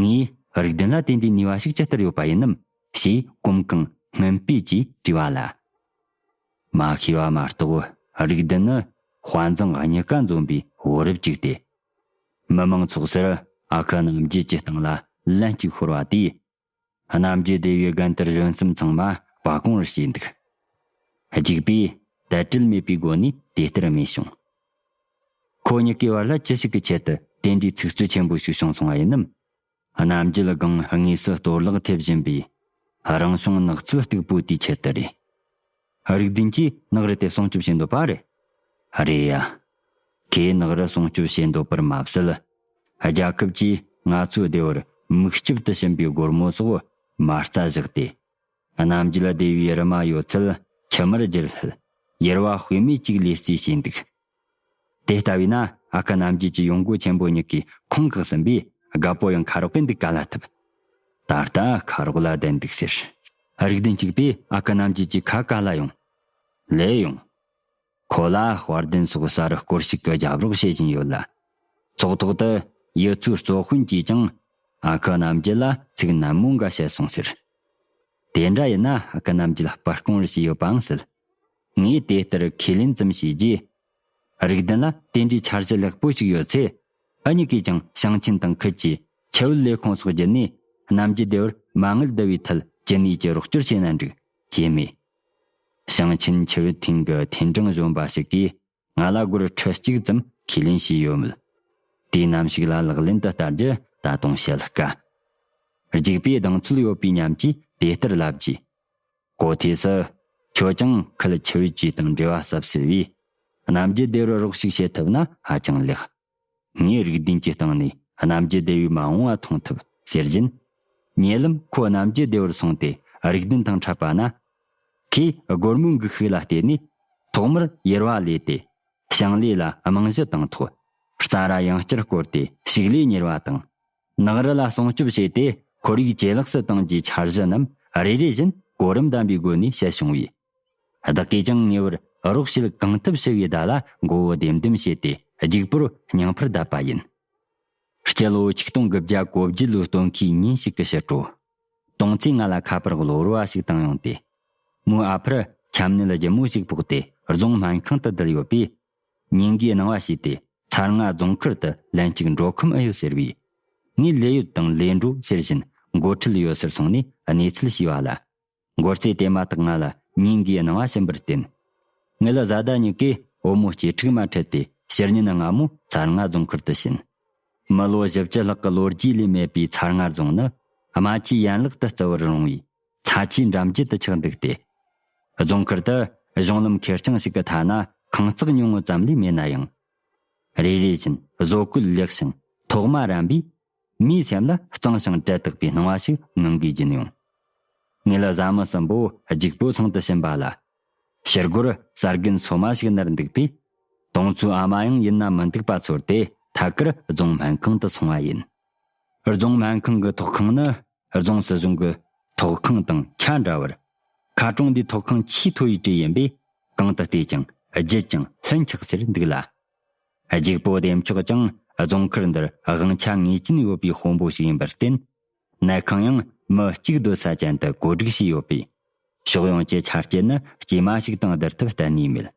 ངའི་རིགས་བདུན་ལ་དེ་འདྲའི་ནུས་པ་ཞིག་ཇི་ལྟར་ཡོད་པ་ཡིན་ནམ་ཞེས་གོམ་གང་སྔོན་སྤོས་ཀྱིས་དྲིས་པ་ལ། མ་ཤེས་པ་མ་གཏོགས་བོད་རིགས་འདི་ནི་དཔའ་མཛངས་རྙེད་དཀའ་འཛོམས་པའི་བུ་རབས་ཅིག་སྟེ། མི་མང་ཚོགས་ཟེར་ཨ་ཁུ་རྣམས་རྒྱུད་ཀྱི་སྟེང་ལ་ལན་གཅིག་ཤོར་བ་དེས་རྣམ་རྒྱལ་སྡེ་བའི་རྒན་དར་གཞོན་གསུམ་ཚང་མ་སྤ་བཀོང་རུ་བྱས་འདུག། རྒྱུག་པས་དལ་བྲེལ་མེད་པའི་སྒོ་ནས་དེ་ལྟར་སྨྲས་བྱུང། ཁོ་གཉིས་ཀའི་བར་ལ་ཅི་ཞིག་གི་ཆེད་དུ་དེ་འདྲའི་ཚིག་རྩོད་ཆེན་པོ་ཞིག་བྱུང་སོང་བ་ཡིན་ནམ། རྣམ་རྒྱལ་སྒང་དངོས་སུ་གཏོར་བརླག་ཐེབས་བཞིན་པའི་རང་བྱུང་ནགས་ཚལ་སྟུག་པོ་དེའི་ཆེད་དུ་རེད། ཨ་རིག་འཛིན་གྱིས་ནགས་རི་དེ་སྲུང་སྐྱོབ་བྱེད་འདོད་པ་རེད། ཨ་རེ་ཡ། ཁོས་ནགས་རི་སྲུང་སྐྱོབ་བྱེད་འདོད་པར་མ་ཟད། རྒྱལ་ཁབ་ཀྱིས་ང་ཚོའི་སྡེ་བར་མིག་ལྕིབས་དུ་ཕྱིན་པའི་སྒོར་མོ་སོགས་མ་རྩ་བཞག་སྟེ། གནམ་གྱི་ལ་སྡེ་བའི་རི་མ་ཡོད་ཚད་ཁྱིམ་མར་བསྒྱུར་སླད། གཡེར་བ་དཔེ་མེད་ཅིག་ལས་རྩིས་བྱས་འདུག་དེ་ལྟ་བས་ན་ཨ་ཁ་རྣམ་རྒྱལ་གྱི་ཡོང་སྒོ་ཆེན་པོ་གཉིས་ཀའི་ཁུངས་བཀག་ཟིན་པས་དགའ་པོ་ཡང་ཁ་རོག་པས་འདུག་ག་ལ་ཐུབ། ད་ལྟ་ཁ་རོག་ལ་བསྡད་འདུག་ཟེར། རིགས་ལྡན་གཅིག་པས་ཨ་ཁ་རྣམ་རྒྱལ་གྱི་ཁ་ག་ལ་ཡོང། ལེ་ཡོང། ཁོ་ལ་དཔར་ལྡན་སོགས་གསར་སྐོར་ཞིག་གི་རྒྱབ་རོགས་བྱེད་བཞིན་ཡོད་ལ། ཚོགས་ཐོག་ཏུ་ཡུལ་ཚོའི་གཙོ་དཔོན་གྱིས་ཀྱང་ཨ་ཁ་རྣམ་རྒྱལ་ལ་ཚིག་ནན་མོ་འགའ་བཤད་སོང་ཟེར། དེ་འདྲ་ཡིན་ན་ཨ་ཁ་རྣམ་རྒྱལ་སྤར་རྐང་རེ་བྱས་ཡོད་པའང་སྲིད། ངས་དེ་ལྟར་ཁས་ལེན་ཙམ་བྱས་རྗེས། རིགས་ལྡན་ལ་དེ་འདྲའི་འཆར་གཞི་ལེགས་པོ་ཞིག་ཡོད་ཚེ། ཨ་མྱེ་གིས་ཀྱང་ཞིང་ཆེན་དང་ཁུལ་གྱི་ཁྱད་བོད་ལས་ཁུངས་སོགས་བརྒྱུད་ནས་གནམ་གྱི་སྡེ་བར་མ་དངུལ་བསྡུ་བའི་ཐད་ཅི་ནུས་ཀྱིས་རོགས་སྐྱོར་བྱས་ན་འགྲིག་ཅེས་སྨྲས། ཞིང་ཆེན་ཁྱད་བོད་ཐིང་གི་ཐིན་ཀྲང་གཞོན་པ་ཞིག་གིས། ང་ལ་སྒོར་ཁྲི་གཅིག་ཙམ་ཁས་ལེན་བྱས་ཡོད་མོད། དུས་ནམ་ཞིག་ལ་ལག་ལེན་དུ་བསྟར་རྒྱུ་ད་དུང་བཤད་དཀའ། རྒྱུགས་པའི་གདེང་ཚོད་ཡོད་པའི་ཉམས་ཀྱིས་དེ་ལྟར་ལབ་རྗེས། གོ་ཐོས་སུ། ཁྱོད་ཀྱང་ཁུལ་ཆེ་བའི་ཇུས་དང་འབྲེལ་བ་ཟབ་ཟེར་བས། གནམ་རྒྱུད་དེ་རུ་རོགས་ཤིག་བྱེད་ཐུབ་ན་ཧ་ཅང་ལེགས། ངས་རིགས་བདུན་གྱི་སྟེང་ནས་རྣམ་རྒྱལ་བདེ་བས་མ་འོངས་བ་མཐོང་ཐུབ་ཟེར་བཞིན། ཉེ་ལམ་ཁོ་རྣམ་རྒྱལ་བདེ་བར་སོང་སྟེ་རིགས་བདུན་དང་འཕྲད་པ་ན། ཁོས་སྒོར་མོའི་འགུགས་ཤུགས་ལ་བརྟེན་ནས་ཐོག་མར་ཡེར་བ་ལས་ཏེ། ཞིང་ལས་ལ་རྨང་གཞི་བཏིང་ཐོག་རྩྭ་ར་ཡང་བསྐྱར་བསྐོར་ཏེ་ཕྱུགས་ལས་གཉེར་བ་དང། ནགས་རི་ལ་སྲུང་སྐྱོབ་བྱས་ཏེ་ཁོར་ཡུག་ཇེ་ལེགས་སུ་བཏང་རྒྱུའི་འཆར་གཞི་རྣམས་རེ་རེ་བཞིན་གོ་རིམ་ལྡན་པའི་སྒོ་ནས་བཤད་བྱུང་བས། བདག་གིས་ཀྱང་ཉེ་བར་རོགས་བྱེད་གང་ཐུབ་ཞུ་བའི་བརྡ་ལ་མགོ་བོ་ལྡེམ་ལྡེམ་བྱས་ཏེ་རྒྱུག་པོར་སྙིང་ཕུར་བརྡབས་པ་ཡིན། སྤྱི་ལོའི་ཆིག་སྟོང་དགུ་བརྒྱ་གོ་བརྒྱད་ལོའི་སྟོན་ཁའི་ཉིན་ཞིག་གི་ཕྱི་དྲོ། དུང་ཙེས་ང་ལ་ཁ་པར་གློ་བུར་བ་ཞིག་བཏང་ཡོང་སྟེ། མོའི་ཨ་ཕར་ཁྱམས་སྣེ་ལ་སྒྱི་མོ་ཞིག་ཕོག་སྟེ་རྫོང་སྨན་ཁང་དུ་བསྡད་ཡོད་པས། ཉིན་འགའི་སྣང་བ་ཤེས་ཏེ་ཚར་ལྔ་རྫོང་མཁར་དུ་ལན་གཅིག་འགྲོ་ཁོམ་ཨེ་ཡོད་ཟེར་བས། ངས་ལས་ཡོད་དང་ལས་འགྲོ་ཟེར་བཞིན་མགོ་ཁྲིད་ཡོད་སར་སོང་ནས་གནས་ཚུལ་ཞུས་པ་ལ། མགོ་རྩེ་དེ་མ་ཐག་ང་ལ་སྙིང་གའི་སྣང་བ་ཞིམ་པར་བསྟན། ངེད་བཟའ་ཟླ་གཉིས་ཀས་བུ་མོ་སྐྱེ་ཕྲུག་མ་འཕྲད་དེ་ཕྱིར་ཉིན་སྔ་མོ་ཚར་རྔ་རྫོང་ཁུལ་དུ་ཕྱིན། མི་ལོ་བཞི་བཅུ་ལྷག་གི་ལོ་རྒྱུས་ལས་མེད་པའི་ཚར་རྔ་རྫོང་ནི་རྨ་ཆུའི་ཡན་ལག་ཏུ་བརྩི་བར་རུང་བའི་ཚ་ཆུའི་འགྲམ་རྒྱུད་དུ་ཆགས་འདུག་སྟེ། རྫོང་ཁུལ་དུ་གཞུང་ལམ་ཁེར་རྐྱང་ཞིག་གི་ཐ་ན་ཁང་བརྩེགས་ཉུང་ངུ་ཙམ་ལས་མེད་ན་ཡང། རེ་རེ་བཞིན་བཟོ་བཀོད་ལེགས་ཤིང་ཐོག་མ་རན་པའི་མིའི་སེམས་ལ་གཙང་ཞིང་དྲལ་དག་པའི་སྣང་བ་ཞིག་མིང་གིས་སྦྱིན་ཡོང། ངེད་བཟའ་མི་གསུམ་པོ་སྒྱུག་པོའི་ཚང་དུ་ཕྱིན་པ་ལ། ཕྱི་སྒོར་གསར་རྒན་ཚོ་མ་ཞིག་ནར་འདུག་པས། དང་ཚོའི་ཨ་མ་ཡང་ཡིན་ན་མི་འདུག་པ་ཚོར་ཏེ་ཐད་ཀར་རྫོང་སྨན་ཁང་དུ་སོང་བ་ཡིན། རྫོང་སྨན་ཁང་གི་ཐོག་ཁང་ནི་རྫོང་སྲིད་གཞུང་གི་ཐོག་ཁང་དང་ཆ་འདྲ་བར། ཁ་གྲོང་འདིའི་ཐོག་ཁང་ཆེས་མཐོ་བའི་གྲས་ཡིན་པས་གང་དུ་བལྟས་ཀྱང་བརྗིད་ཅིང་ལྷུན་ཆགས་སེར་འདུག་ལ། རྒྱུག་པོ་འདེམས་ཆོག་ཀྱང་རྫོང་མཁར་འདིར་དབང་ཆ་ངེས་ཅན་ཡོད་པའི་དཔོན་པོ་ཞིག་ཡིན་པར་བརྟེན། གནས་ཁང་ཡང་མི་གཅིག་སྡོད་ས་ཅན་དུ་བགོ་སྒྲིག་བྱས་ཡོད་པས། ཕྱོགས་ཡོངས་ཀྱི་ཆ་རྐྱེན་ནི་དཀྱུས་མ་ཞིག་དང་བསྡུར་ཐབས་གཏན་ནས་མེད།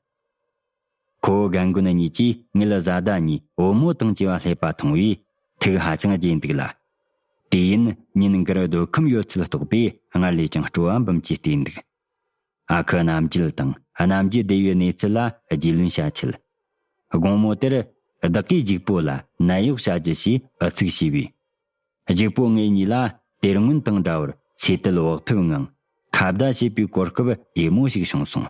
ཁོ་བོ་རྒན་རྒོན་གཉིས་ཀྱིས་ངེད་བཟའ་ཟླ་གཉིས་བུ་མོ་དང་བྱིས་པ་སླེབས་པ་མཐོང་བས་ཐུགས་ཧ་ཅང་དགྱེས་འདུག་ལ། དུས་ཡུན་ཉིན་འགར་སྡོད་ཁམས་ཡོད་ཚད་རྟོགས་པས་སྔར་ལས་ཀྱང་སྤྲོ་བ་འབུམ་གྱིས་བརྟས་འདུག། སྔགས་ཁུ་རྣམ་བརྒྱུད་དང་རྣམ་བརྒྱུད་སྡེ་བའི་གནས་ཚུལ་ལ་རྒྱུས་ལོན་བྱ་ཆེད། དགོང་མོ་དེར། བདག་གིས་འཇིགས་པོ་ལ་ནད་གཡོག་བྱ་རྒྱུ་ཞེས་ཨུ་ཚུགས་བྱས་པས། འཇིགས་པོ་ངེད་གཉིས་ལ་དེར་སྔོན་དང་འདྲ་བར་ཚེ་ཏུལ་བག་ཕེབས་ངང་ཁ་བརྡ་བྱེད་པའི་གོ་སྐབས་དབྱིན་མོ་ཞིག་བྱུང་སོང།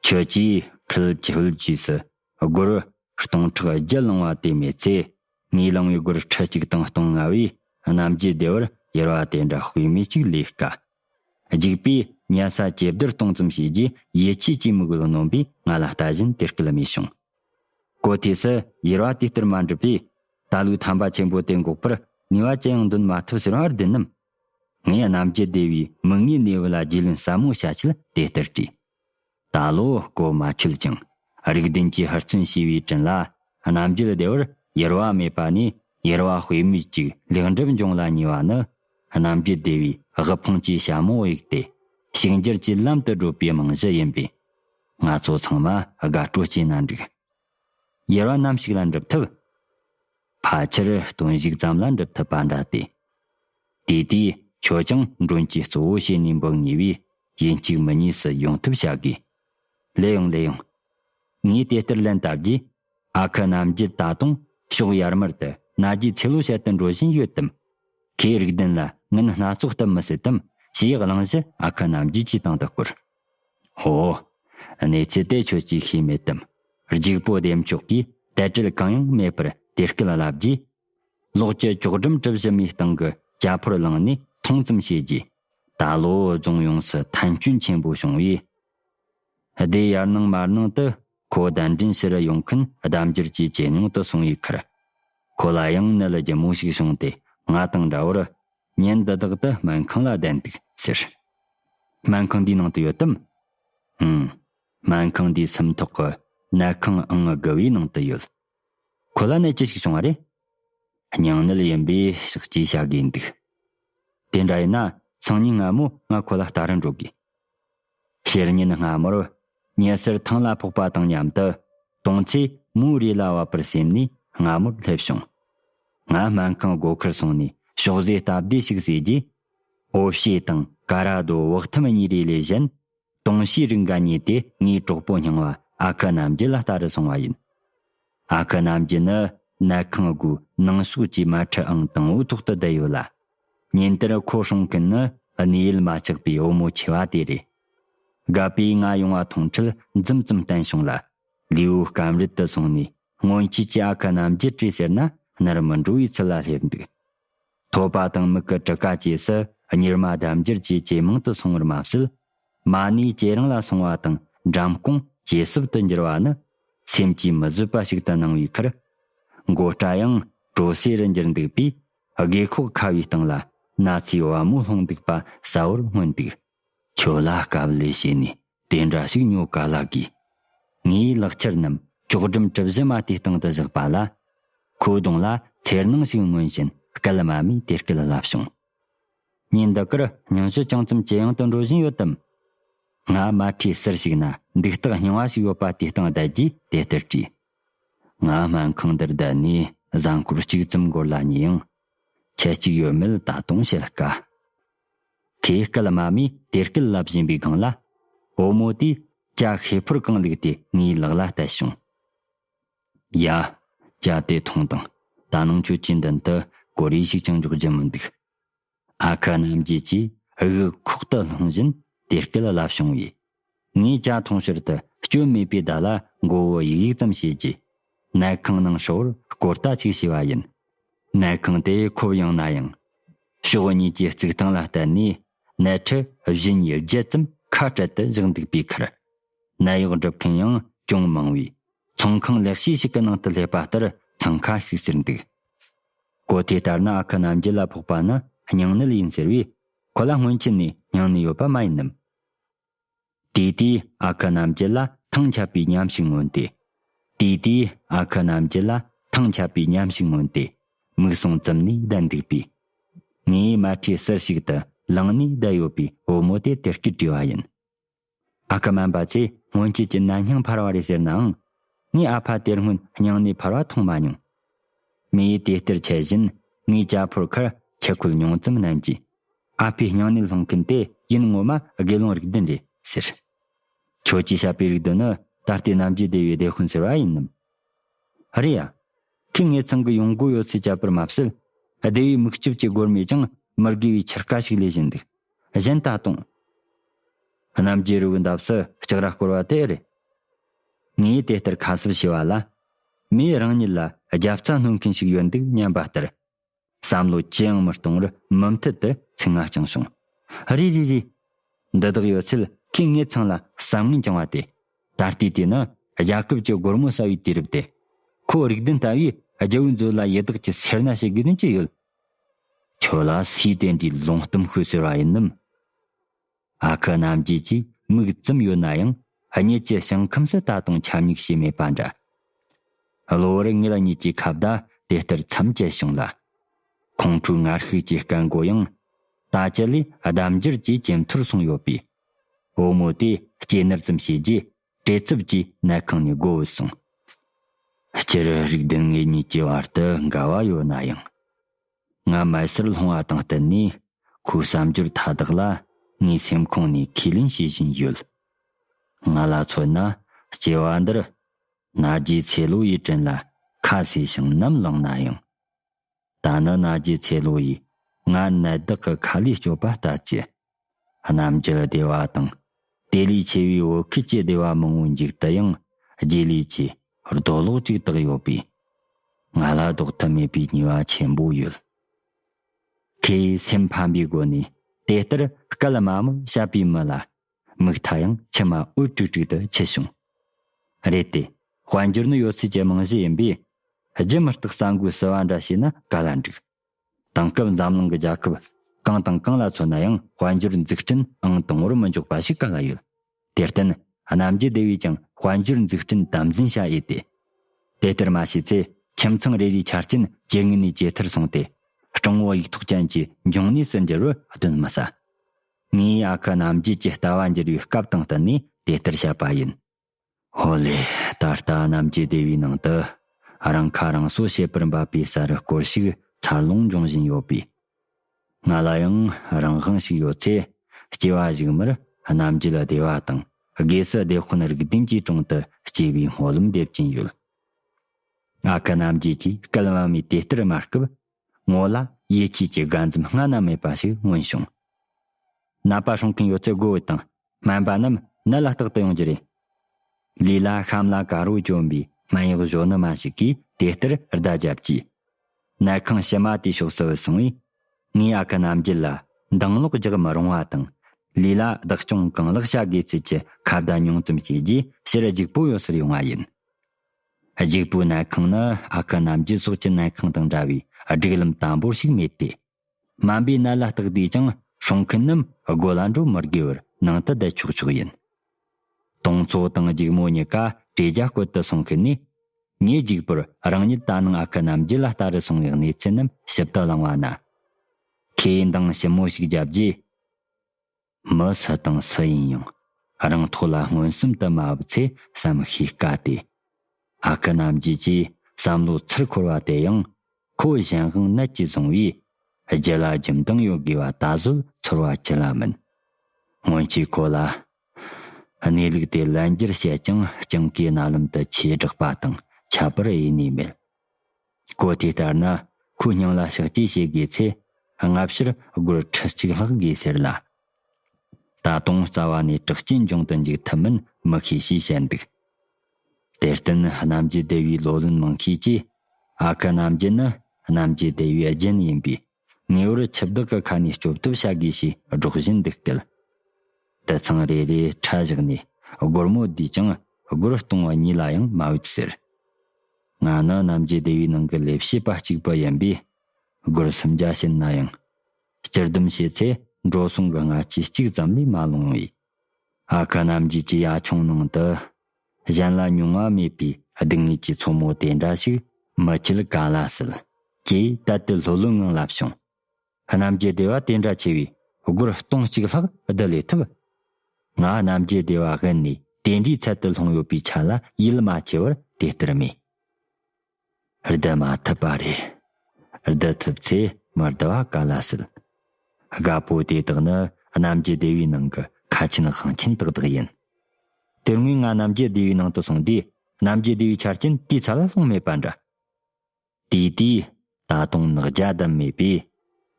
ཁྱོད་ཀྱིས་ཁུལ་ཁྱོད་རྒྱུས་སུ་སྒོར། སྟོང་ཕྲག་བརྒྱད་བླང་བ་དེ་མེད་ཚེ། ངས་བླངས་བའི་སྒོར་ཁྲི་གཅིག་དང་སྟོང་ལྔ་བས་རྣམ་རྒྱལ་བདེ་བར་གཡེར་བ་དེ་འདྲ་དཔེ་མེད་ཅིག་ལས་དཀའ། རྒྱུགས་པས་གཉན་ས་ཇེ་བདེར་གཏོང་ཙམ་བྱས་རྗེས་ཡིད་ཆེས་ཀྱི་མི་གུས་ནོན་པས་ང་ལ་ལྟ་བཞིན་དེར་སྐུལ་མེད་བྱུང། གོ་ཐོས་སུ་གཡེར་བ་དེ་ལྟར་མ་འགྲུབ་པས། ད་ལུགས་ཐམ་པ་ཆེན་པོ་དེ་འགོག་པར་ནུས་བ་ཅི་ཡང་འདོན་མ་ཐུབ་ཟེར་བར་བདེན་ནམ། ངས་རྣམ་རྒྱལ་བདེ་བའི་མིག་སྔའི་གནས་བབ་ལ་རྒྱུས་ལོན་ཟབ་མོ་བྱ་ཆེད་དེ་ལྟར་དྲིས། ད་ལོ་སྐོར་མ་ཆོད་ཅིང་རིགས་ལྡན་གྱིས་ཧུར་བརྩོན་བྱས་པའི་དྲིན་ལ་རྣམ་རྒྱལ་སྡེ་བར་ཡེར་བ་མེད་པ་ནས་ཡེར་བ་དཔེ་མེད་ཅིག་ལེགས་འགྲུབ་འབྱུང་ལ་ཉེ་བ་ནི། རྣམ་རྒྱལ་སྡེ་བའི་དབུལ་ཕོངས་ཀྱི་ཞྭ་མོ་གཡུགས་ཏེ་ཕྱུག་འགྱུར་གྱི་ལམ་དུ་བགྲོད་པའི་རྨང་གཞི་ཡིན་པས། ང་ཚོ་ཚང་མ་དགའ་སྤྲོ་སྐྱེས་ན་འགྲིག། གཡེར་བ་ནམ་ཞིག་ལ་འགྲུབ་ཐུབ། ཕལ་ཆེར་སྟོན་བཞུགས་ཙམ་ལ་འགྲུབ་ཐུབ་པ་འདྲ་སྟེ། དེ་དུས་ཁྱོད་ཀྱང་མགྲོན་གྱི་གཙོ་བོ་བྱས་ནས་འབོད་ངེས་པས་ཡིན་གཅིག་མི་གཉིས་སུ་ཡོང་ཐུབ་བྱ་དགོས། ལེ་ཡོང་ལེ་ཡོང། ངས་དེ་ལྟར་ལན་བཏབ་རྗེས། ཨ་ཁུ་རྣམ་རྒྱལ་ད་དུང་ཕྱོགས་ཡར་མར་དུ་རྣ་རྒྱའི་ཚེ་ལོ་བཤད་དུ་འགྲོ་བཞིན་ཡོད་དམ། ཁོས་རིགས་ལྡན་ལ་ངན་སྣ་ཚོགས་བཏབ་མི་སྲིད་དམ་ཞེས་གླེང་གཞི་ཨ་ཁུ་རྣམ་རྒྱལ་གྱི་སྟེང་དུ་བསྐུར། ཧོ། གནས་ཚུལ་དེ་ཁྱོད་ཀྱིས་ཤེས་མེད་དམ། རྒྱུག་པོ་བདེ་མཆོག་གིས་དལ་བྲེལ་གང་ཡང་མེད་པར་དེ་སྐད་ལབ་རྗེས། ལོགས་ཀྱི་ཅོག་སྒྲོམ་གྲུ་བཞི་མའི་སྟེང་གི་ཅ་ཕོར་བླངས་ནས་ཐོངས་ཙམ་བྱས་རྗེས། ད་ལོ་རྫོང་ཡོངས་སུ་ཐན་སྐྱོན་ཆེན་པོ་བྱུང་བས། སྡེ་ཡར་ནང་མར་ནང་དུ་ཁོ་གདན་འདྲེན་ཕྱིར་ཡོང་མཁན་ལྡབ་འགྱུར་གྱིས་ཇེ་ཉུང་དུ་སོང་བའི་ཁར། ཁོ་ལ་ཡང་ནད་ལྗིད་མོ་ཞིག་བྱུང་སྟེ་ང་དང་འདྲ་བར་ཉིན་འདི་དག་ཏུ་སྨན་ཁང་ལ་བསྡད་འདུག་ཟེར། སྨན་ཁང་འདིའི་ནང་དུ་ཡོད་དམ། ཨང། སྨན་ཁང་འདིའི་སུམ་ཐོག་གི་ནད་ཁང་ཨང་དགུ་བའི་ནང་དུ་ཡོད། ཁོ་ལ་ནད་ཅི་ཞིག་བྱུང་བ་རེད། སྙིང་ནད་ཡིན་པའི་ཞག་གཅིག་བྱ་དགོས་འདུག། དེ་འདྲ་ཡིན་ན་སང་ཉིན་སྔ་མོ་ང་ཁོ་ལ་ལྟ་རུ་འགྲོ་དགོས། བཤེར་ཉིན་སྔ་མོར། ཉི་ཟེར་ཐང་ལ་ཕོག་པ་དང་མཉམ་དུ། དུང་ཆོས་མོའི་རས་ལ་བབས་པར་སེམས་ནས་སྔ་མོར་སླེབས་བྱུང། ང་སྨན་ཁང་སྒོ་ཁར་སོང་ནས་ཕྱོགས་བཟོས་སྟབས་བདེ་ཞིག་བཟོས་རྗེས། ཨོ་བྱེད་དང་ཀ་ར་རྡོ་བག་ཐུམ་གཉིས་རེ་ལས་གཞན། དུང་ཆོས་རིགས་འགའ་རྙེད་དེ་ངའི་གྲོགས་པོ་རྙིང་བ་ཨ་ཁུ་རྣམ་རྒྱལ་ལ་ལྟ་རུ་སོང་བ་ཡིན། ཨ་ཁུ་རྣམ་རྒྱལ་ནི་གནའ་ཁང་སྒོའི་ནང་ཞོགས་ཀྱི་མལ་ཁྲི་ཨང་དང་བོའི་ཐོག་ཏུ་བསྡད་ཡོད་ལ། ཉིན་དེར་ཁོ་བསྲུང་མཁན་ནི་གནས་ཡུལ་མ་བཅག་པའི་བུ་མོ་ཆེ་བ་དེ་རེད། སྒ་པས་ང་ཡོང་བ་མཐོང་འཕྲལ་འཛུམ་ཙམ་བསྟན་བྱུང་ལ། ལུས་བོ་སྐམ་རིད་དུ་སོང་ནས་སྔོན་ཆད་ཀྱི་ཨ་ཁུ་རྣམ་རྒྱལ་བཀྲིས་ཟེར་ན་ནར་མི་འགྲོ་བའི་ཚུལ་ལ་སླེབས་འདུག། ཐོད་པ་དང་མིག་གི་གྲུ་ཀ་བཅས་སུ་གཉེར་མ་ལྡབ་འགྱུར་གྱིས་ཇེ་མང་དུ་སོང་བར་མ་ཟད། མ་ནི་ཇེ་རིང་ལ་སོང་བ་དང་འགྲམ་རྐང་ཇེ་སྲུབ་ཏུ་འགྱུར་བ་ནི། སེམས་ཀྱིས་མི་བཟོད་པ་ཞིག་ཏུ་སྣང་བའི་ཁར། མགོ་སྐྲ་ཡང་བྲོ་སེ་རུ་འགྱུར་འདུག་པས་སྒེ་ཁོག་ཁ་བའི་སྟེང་ལ་ན་ཚའི་བ་མོ་ལྷུང་འདུག་པ་གསལ་བོར་མངོན་འདུག། ཁྱོད་ལ་དཀའ་བ་ལས་བྱས་ནས་དེ་འདྲ་ཞིག་ཉོ་ག་ལ་དགོས། ངས་ལག་ཁྱེར་རྣམས་ཅོག་སྒྲིམ་གྲིབ་བཞི་མ་དེའི་སྟེང་དུ་བཞག་པ་ལ། ཁོའི་གདོང་ལ་འཚེར་སྣང་ཞིག་མངོན་བཞིན་སྐད་དམའ་མོས་དེ་སྐད་ལབ་བྱུང། ཉིན་འདི་འགར་སྙུན་གཞི་ཅུང་ཙམ་ཇེ་ཡང་དུ་འགྲོ་བཞིན་ཡོད་དམ། ང་མལ་ཁྲིའི་གསེར་ཞིག་ན་འདུག་སྟག་རྙིང་བ་ཞིག་ཡོད་པ་དེའི་སྟེང་བསྡད་རྗེས་དེ་ལྟར་དྲིས། ང་སྨན་ཁང་འདིར་བསྡད་ནས་གཟའ་འཁོར་གཅིག་ཙམ་འགོར་ལ་ཉེ་ཡང། ཁྱི་གཅིག་ཡོད་མེད་ད་དུང་བཤད་དཀའ། ཁོས་སྐད་དམའ་མོས་དེར་སྐད་ལབ་བཞིན་པའི་སྒང་ལ། བུ་མོ་དེས་སྐྱ་ཤེད་ཕུར་རྐང་བླུགས་ཏེ་ངའི་ལག་ལ་གཏད་བྱུང། ཡ། སྐྱ་དེ་ཐུང་དང། ད་ནང་ཁྱོད་ཀྱི་མདུན་དུ་གོ་རེ་ཞིག་ཀྱང་འཇོག་རྒྱུ་མི་འདུག། ཨ་ཁ་རྣམ་རྒྱལ་གྱིས་དབུགས་ཁོག་ཏུ་ལྷུང་བཞིན་དེ་སྐད་བསླབ་བྱུང་བས། ངས་ཅ་ཐུང་ཕྱིར་དུ་བསྐྱོད་མེད་པའི་བརྡ་ལ་མགོ་བོ་ཡིག་ཡིག་ཙམ་བྱས་རྗེས། གནས་ཁང་ནང་ཧྲིལ་བོར་སྐོར་ལྟ་ཅིག་བྱས་པ་ཡིན། གནས་ཁང་དེ་ཁོབ་ཡངས་ན་ཡང། ཕྱོགས་གཉིས་ཀྱི་རྩིག་ཐང་ལ་བརྟེན་ནས་གནས་འཕྲི་བཞི་གཉིས་བརྒྱད་ཙམ་ཁ་བྲལ་དུ་བཞག་འདུག་པའི་ཁར། ནད་གཡོག་སྒྲུབ་མཁན་ཡང་ཅུང་མང་བས། ཚོང་ཁང་ལེགས་ཤོས་ཤིག་གི་ནང་དུ་སླེབས་པ་ལྟར་འཚང་ཁ་ཤིག་ཟེར་འདུག་གོ། དེ་ལྟར་ན་ཨ་ཁུ་རྣམ་རྒྱལ་ལ་ཕོག་པ་ནི་སྙིང་ནད་ཡིན་ཟེར་བས། ཁོ་ལ་སྔོན་ཆད་ནས་སྙིང་ནད་ཡོད་པ་མ་ཡིན་ནམ། དེ་དུས་ཨ་ཁུ་རྣམ་རྒྱལ་ལ་ཐང་ཆད་པའི་ཉམས་ཤིག་མངོན་ཏེ། དེ་དུས་ཨ་ཁུ་རྣམ་རྒྱལ་ལ་ཐང་ཆད་པའི་ཉམས་ཤིག་མངོན་ཏེ། མིག་ཟུང་བཙུམ་ནས་བསྡད་འདུག་པས། ངའི་མལ་ཁྲིའི་གསེར་ཞིག་ཏུ་ལངས་ནས་བསྡད་ཡོད་པའི་བུ་མོ་དེ་དེར་སྐྱུར་བྲིས་པ་ཡིན། ཨ་ཁུ་སྨན་པ་ཚོས་སྔོན་ཆད་ཀྱི་ནད་སྙིང་འཕར་བ་རེད་ཟེར་ནའང། ངས་ཨ་ཕ་དེར་སྔོན་སྙིང་ནད་འཕར་བ་མཐོང་མ་མྱོང། མི་ཡིས་དེ་ལྟར་འཆད་བཞིན་ངའི་རྒྱ་ཕོར་ཁར་ཆུ་ཁོལ་ཉུང་ཙམ་བསྣན་རྗེས། ཨ་ཕའི་སྙིང་ནད་སློང་མཁན་དེ་ཡིན་ངོ་མ་དགེ་སློང་རིགས་ལྡན་རེད་ཟེར། ཁྱོད་ཀྱིས་བཤད་པའི་རིགས་ལྡན་ནི་ད་ལྟའི་རྣམ་དཔྱོད་ལྡེ་བའི་བདེ་ཧུན་ཟེར་བ་ཡིན་ནམ། ཨ་རེ་ཡ། ཁོས་ངེད་ཚང་གི་ཡོང་སྒོ་ཡོད་ཚད་བཅད་པར་མ་ཟད། སྡེ་བའི་མིག་ལྕིབས་ཀྱི་སྒོར་མོས་ཀྱང་མི་དགེ་བའི་ཕྱིར་ཀ་ཞིག་ལས་བཞིན་འདུག། གཞན་ད་དུང། རྣམ་རྒྱལ་རི་བོའི་འདབས་སུ་ལྕགས་ར་བསྐོར་བ་དེ་རེད། ངས་དེ་ལྟར་ཁ་གསབ་བྱས་བ་ལ། མོས་རང་ཉིད་ལ་རྒྱབ་རྩ་སྣོན་མཁན་ཞིག་ཡོད་འདུག་སྙམ་པ་ལྟར། བསམ་བློ་ཅི་ཡང་མི་གཏོང་བར་མུ་མཐུད་དུ་ཚིག་རྔ་བསྐྱངས་བྱུང། རེ་རེ་རེ། འདི་དག་ཡོད་ཚད་ཁོས་ངེད་ཚང་ལ་བསམ་ངན་བཅངས་བ་དེ། ད་ལྟའི་དུས་ནི་རྒྱལ་ཁབ་ཀྱི་སྒོར་མོ་ཟ་བའི་དུས་རབས་དེ། ཁོ་རིགས་ལྡན་ལྟ་བུས་རྒྱལ་བོའི་མཛོད་ལ་ཡི་དྭགས་ཀྱི་སེར་སྣ་བྱེད་དགོས་དོན་ཅི་ཡོད། ཁྱོད་ལ་སུས་བསྟན་དུས་ལོང་གཏུམ་ཤོས་ཟེར་བ་ཡིན་ནམ། ཨ་ཁུ་རྣམ་རྒྱལ་གྱིས་མིག་བཙུམས་ཡོད་ན་ཡང་གཉིད་ཀྱི་ཞིང་ཁམས་སུ་ད་དུང་ཆམ་ཉུག་བྱས་མེད་པ་འདྲ། གློ་བུར་ངེད་གཉིས་ཀྱི་ཁ་བརྡ་དེ་ལྟར་མཚམས་བཅད་བྱུང་ལ། ཁོང་ཁྲོའི་ངར་ཤུགས་ཀྱི་སྐད་མགོ་ཡང་ད་ཅི་ལས་ལྡབ་འགྱུར་གྱིས་ཇེ་མཐོར་སོང་ཡོད་པས། བུ་མོ་དེས་སྐྱེས་ནར་ཙམ་བྱས་རྗེས་བྲེལ་འཚུབ་ཀྱིས་གནས་ཁང་ནས་སྒོ་བུད་སོང། སྤྱིར་རིག་ལྡན་ངེད་གཉིས་ཀྱི་བར་དུ་འགལ་བ་ཡོད་ན་ཡང། ང་མལ་སར་ལྷུང་བ་དང་བསྟུན་ནས་ཁོའི་བསམ་སྦྱོར་མཐའ་དག་ལ་ངའི་སེམས་ཁོང་ནས་ཁས་ལེན་བྱེད་བཞིན་ཡོད། ང་ལ་མཚོན་ན་སྐྱེ་བ་འདིར། ན་རྒྱའི་ཚེ་ལོ་ཡི་དྲིན་ལ་ཁ་ཟས་ཤིང་ནམ་བླངས་ན་ཡང། ད་ནི་ན་རྒྱའི་ཚེ་ལོ་ཡིས་ང་ནད་བདག་གི་ཁ་ལས་སྐྱོབ་པ་ལྟ་ཅི། གནམ་གྱི་བདེ་བ་དང། དེ་ལས་ཆེ་བའི་བོད་ཁུལ་གྱི་བདེ་བ་མང་བོ་འཇུག་དུ་ཡང་རྗེས་ལུས་ཀྱི་རྡོ་ལོག་ཅིག་བཏགས་ཡོད་པས། ང་ལ་ལྡོག་ཐབས་མེད་པའི་ཉེས་བ་ཆེན་པོ་ཡོད། ཁོས་སེམས་ཕམ་པའི་སྒོ་ནས་དེ་ལྟར་སྐད་དམའ་མོས་བཤད་པའི་མི་ལ་མིག་མཐའ་ཡང་མཆི་མ་འོད་དཀྲིག་དཀྲིག་ཏུ་འཁྱིལ་བྱུང། རེད་དེ། དཔལ་འབྱོར་ནི་ཡོད་ཚད་ཀྱི་རྨང་གཞི་ཡིན་པས། རྒྱུ་མི་རྟག་ས་འགུལ་བསུ་བ་འདྲ་བྱས་ན་ག་ལ་འགྲིག། དེང་སྐབས་འཛམ་གླིང་གི་རྒྱལ་ཁབ་གང་དང་གང་ལ་མཚོན་ན་ཡང་དཔལ་འབྱོར་འཛུགས་སྐྲུན་ཨང་དང་བོར་མི་འཇོག་པ་ཞིག་ག་ལ་ཡོད། དེར་བརྟེན། རྣམ་རྒྱལ་སྡེ་བས་ཀྱང་དཔལ་འབྱོར་འཛུགས་སྐྲུན་དམ་འཛིན་བྱ་ཡི་སྟེ། དེ་ལྟར་མ་བྱས་ཚེ་ཁྱིམ་ཚང་རེ་རེའི་ཆ་རྐྱེན་ཇེ་ངན་ནས་ཇེ་མཐོར་སོང་སྟེ། སྤྲང་བོ་ཡིག་ཐོག་ཅན་གྱི་འབྱུང་གནས་སུ་འགྱུར་བར་གདོན་མི་ཟ། ངས་ཨ་ཁུ་རྣམ་རྒྱལ་གྱི་ལྟ་བ་འགྱུར་བའི་སྐབས་དང་བསྟུན་ནས་དེ་ལྟར་བཤད་པ་ཡིན། ཧོ་ལེ། ད་ལྟ་རྣམ་རྒྱལ་སྡེ་བའི་ནང་དུ། རང་ཁ་རང་གསོ་བྱེད་པར་འབད་པའི་ས་རུ་སྐོར་ཞིག་འཚར་ལོངས་འབྱུང་བཞིན་ཡོད་པས། ང་ལ་ཡང་རང་དབང་ཞིག་ཡོད་ཚེ། སྐྱེ་བ་གཞུག་མར་རྣམ་རྒྱལ་སྡེ་བ་དང་སྒོས་སུ་བདེ་དཔོན་རིགས་ལྡན་གྱི་དྲུང་དུ་སྐྱེ་བའི་སྨོན་ལམ་འདེབས་ཀྱིན་ཡོད། ཨ་ཁུ་རྣམ་རྒྱལ་གྱིས་སྐལ་བ་མེད་དེ་ལྟར་སྨྲ་སྐབས། ངོ་ལ་ཡིད་ཆེས་ཀྱི་དགའ་འཛུམ་སྔ་ན་མེད་པ་ཞིག་མངོན་བྱུང། ནད་པ་སྲུང་མཁན་ཡོད་ཚད་སྒོ་འོད་དང་སྨན་པ་རྣམས་ནད་ལ་རྟག་ཏུ་ཡོང་རྒྱུ་རེད། ལུས་ལ་ཤམ་ལ་ཀ་རོ་གྱོན་པའི་སྨན་གཡོག་གཞོན་ནུ་མ་ཞིག་གིས་དེ་ལྟར་བརྡ་བརྒྱབ་རྗེས། ནད་ཁང་ཕྱི་མ་དེའི་ཕྱོགས་སུ་སོང་བས། ངས་ཨ་ཁུ་རྣམ་རྒྱལ་ལ་འདང་ངློག་རྒྱག་མི་རུང་བ་དང། ལུས་ལ་བདག་སྐྱོང་གང་ལེགས་བྱ་དགོས་ཚུལ་གྱི་ཁ་བརྡ་ཉུང་ཙམ་བྱས་རྗེས་ཕྱིར་རྒྱུགས་པོ་ཡོད་སར་ཡོང་བ་ཡིན། གཞུག་པོའི་གནས་ཁང་ནི་ཨ་ཁུ་རྣམས་ཀྱི་སྲོག་གཅོད་གནས་ཁང་དང་འདྲ་བས་སྒྲིག་ལམ་དམ་པོར་ཞིག་མེད་དེ། སྨན་པའི་གནད་ལ་བརྟགས་དུས་ཀྱང་སྲུང་མཁན་རྣམས་སྒོ་ལ་འགྲོ་མི་དགོས་པར་ནང་དུ་བསྡད་ཆོག་ཆོག་ཡིན། དུང་མཚོ་དང་སྒྱུག་མོ་གཉིས་ཀ་བྲེ་རྒྱ་བསྐོལ་དུ་སོང་གི་ནི། ངས་གཞུག་པོར་རང་ཉིད་ད་ནངས་ཨ་ཁུ་རྣམས་རྒྱུད་ལ་ལྟ་རུ་སོང་བའི་གནས་ཚུལ་རྣམས་ཞིབ་ཏུ་བླངས་བ་ན། ཁོས་འདང་ཞིབ་མོ་ཞིག་བརྒྱབ་རྗེས། མི་སུ་དང་སུ་ཡིན་ཡང་རང་ཐོག་ལ་མངོན་སུམ་དུ་མ་བབས་ཚེ་བསམ་ཤེས་དཀའ་སྟེ། ཨ་ཀི་རྣམ་རྒྱལ་གྱི་བསམ་བློའི་ཚུར་འཁོར་བ་དེ་ཡང་ཁོ་གཞན་དབང་ནད་ཀྱིས་བཟུང་བས་རྒྱུ་ལ་རྒྱུ་མདངས་ཡོད་དགོས་པ་ད་གཟོད་ཚོར་བ་ཅི་ལ་མིན། སྔོན་ཆད་ཁོ་ལ་གནས་ལུགས་དེ་ལན་བརྒྱར་བཤད་ཀྱང་སྤྱང་ཀའི་རྣ་ལམ་དུ་ཆོས་བསྒྲགས་པ་དང་ཁྱད་པར་དབྱེ་ནུས་མེད། བཀོད་དེ་ལྟར་ན་ཁོའི་སྙིང་ལ་ཞག་གཅིག་བྱེད་དགོས་ཚེ་སྔ་ཕྱིར་སྒོར་ཁྲི་གཅིག་ལྷག་དགོས་ཟེར་ལ། ད་དུང་རྩ་བ་ནས་དྲག་སྐྱེད་འབྱུང་དུ་འཇུག་ཐུབ་མིན་མི་ཤེས་ཞེས་བཤད་འདུག་དེར་བརྟེན་རྣམ་རྒྱལ་སྡེ་བའི་ལོ་ལོན་མང་ཤས་ཀྱིས་ཨ་ཁུ་རྣམ་རྒྱལ་ནི་རྣམ་རྒྱལ་སྡེ་བའི་རྒྱུན་ཡིན་པའི་ངེས་བར་ཁྱི་བདག་གི་ཁ་ནས་སྐྱོབ་ཐབས་བྱ་དགོས་ཞེས་སྒྲོག་བཞིན་འདུག་སྐད། དེ་ཚང་རེ་རེའི་ཕྲ་བཞག་ནས་སྒོར་མོ་བསྡུས་ཀྱང་སྒོར་སྟོང་བ་གཉིས་ལ་ཡང་མ་དབུལ་ཟེར། ང་ནི་གནམ་གྱི་སྡེ་བའི་ནང་གི་ལས་བྱེད་པ་གཅིག་པུ་ཡིན་པས་སྒོར་སུམ་བརྒྱ་བྱིན་ན་ཡང། སྤྱིར་སྡུམ་བྱས་ཚེ་འགྲོ་སོང་གི་སྔ་ཕྱི་གཅིག་ཙམ་ལས་མ་ལོངས་བས། ཨ་ཁ་རྣམ་རྒྱལ་གྱི་ཡ་ཆུང་ནང་དུ། གཞན་ལ་མྱོང་བ་མེད་པའི་སྡུག་བསྔལ་གྱི་མཚོ་མོ་དེ་འདྲ་ཞིག་མི་འཁྱིལ་ག་ལ་སྲིད། ཅེས་དལ་དལ་ལྷོད་ལྷོད་ངང་ལབ་བྱུང། རྣམ་རྒྱལ་སྡེ་བ་དེ་འདྲ་ཆེ་བས་སྒོར་སྟོང་གཅིག་ལྷག་བསྡུ་ལས་ཐུབ། ང་རྣམ་རྒྱལ་སྡེ་བ་དབེན་ནས་དེ་འདྲའི་ཚད་དུ་ལྷུང་ཡོད་པའི་ཆ་ལ་ཡིད་མ་ཆེས་པར་དེ་ལྟར་སྨྲས། བསྡུ་མ་ཐུབ་པ་རེད། བསྡུ་ཐུབ་ཚེ་མི་བསྡུ་བ་ག་ལ་སྲིད། དགའ་པོ་དེ་དག་ནི་གནམ་གྱི་སྡེ་བའི་ནང་གི་ཁ་ཆེན་དབང་ཆེན་དག་དག་ཡིན། དེ་སྔོན་ང་གནམ་གྱི་སྡེ་བའི་ནང་དུ་སོང་དུས་གནམ་གྱི་སྡེ་བའི་ཆ་རྐྱེན་དེའི་ཚ་ལ་ལྷུང་མེད་པ་འདྲ། དེའི་དུས་ད་དུང་ནག་རྒྱ་བསྡམས་མེད་པས།